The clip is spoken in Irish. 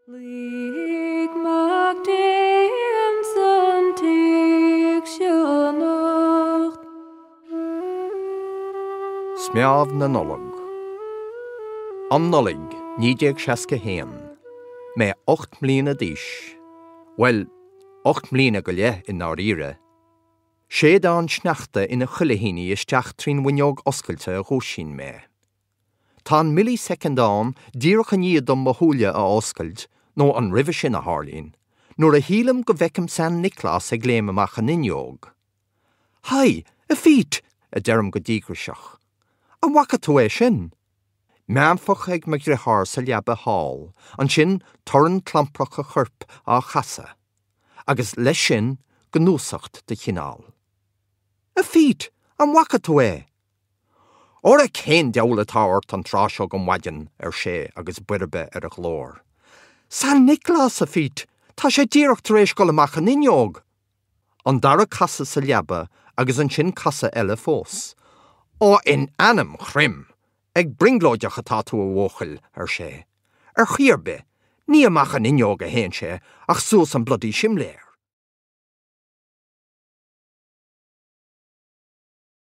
Lig Mac Dé ins an tigh seo anocht. Smeámh na Nollag. An Nollaig 1961, mé ocht mbliana d'aois, bhuel, ocht mbliana go leith i ndáiríre. Séideán sneachta ina chuilithíní isteach trín bhfuinneog oscailte a dhúisíonn mé. Tá an millisecond ann díreach i ndiaidh dom mo shúile a oscailt, nó an roimhe sin é, a tharlaíonn, nuair a shílim go bhfeicim San Nioclás ag léim amach an fhuinneog. Hi, a Phete! a deirim go díograiseach. An bhfaca tú é sin? Méanfach ag mo dhriotháir sa leaba thall, ansin torann clamprach a choirp á chasadh, agus leis sin, gnúsacht de chineál. A Phete! An bhfaca tú é? Óra cén deabhal atá ort an tráth seo de mhaidin, ar sé agus boirbe ar a ghlór. San Nioclás, a Phete! Tá sé díreach tar éis dul amach an fhuinneog! An dara casadh sa leaba agus ansin casadh eile fós. Ó in ainm Chroim! Ag brionglóideach atá tú a bhuachaill! ar sé. Ar chaoi ar bith, ní amach an fhuinneog a théann sé ach suas an bloody simléar!